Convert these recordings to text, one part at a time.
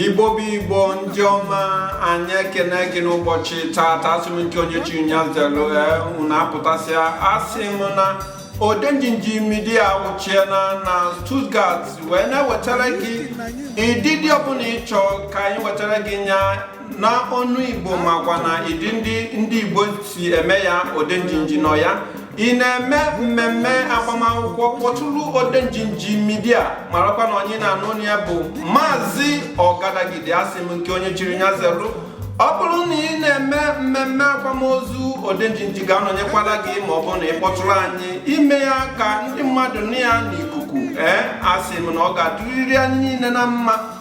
igbo bụ igbo ndị ọma anyị ekene gị n'ụbọchị taata asị m nke onye chi nya zelu unu apụtasịa asị m na odenjinji media wụchiena na Stuttgart wee na-ewetara gị ịdịdị ọbụla ị chọ ka anyị wetara gị nya na onu igbo makwa na ịdịdị ndị igbo si eme ya odenjinji nọ ya ị na-eme mmemme agbamakwụkwọ kpọtụrụ odenjinji media marakwa na onye ị na-anụ onu ya bụ maazị ọgadagidi asị m nke onye chiri nya zelu ọ bụrụ na ị na-eme mmemme akwamozu odenjinji ga-anọnyekwara gị ma ọ bụ na ị kpọtụrụ anyị ime ya ka ndị mmadụ nụ ya n'ikuku ee asị m na ọ ga-adịrịrị anyị niile na mma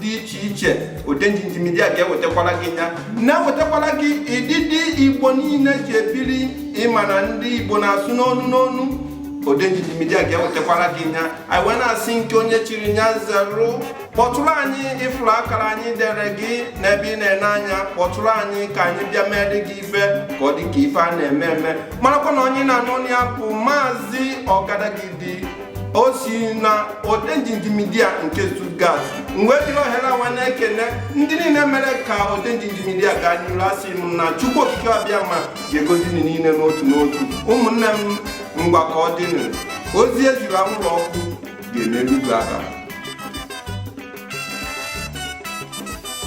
dị iche iche odenjinji media ga-ewetakwara gị ya na-ewetakwara gị ịdịdị igbo niile ji ebiri ị ma na ndị igbo na-asụ n'onu n'onu odenjinji media ga-ewetakwara gị ya anyị wee na-asị nke onye chiri nya zeru kpọtụrụ anyị ị fụrụ akara anyị dere gị n'ebe ị na-ene anya kpọtụrụ anyị ka anyị bịa meere gị ife ka ọ dị ka ife a na-eme eme marakwa na onye ị na-anụ onu ya bụ maazị ọgadagidi o si na odenjinji media nke Stuttgart m wee jiri ohere anwa na-ekene ndị niile mere ka odenjinji media gaa n'iru asị m na Chukwu Okike Abịama ga-egozi unu niile n'otu n'otu ụmụnne m ngwa ka ọ dịnụ ozi e ziri anwụrụ ọkụ ga-eme erugo aka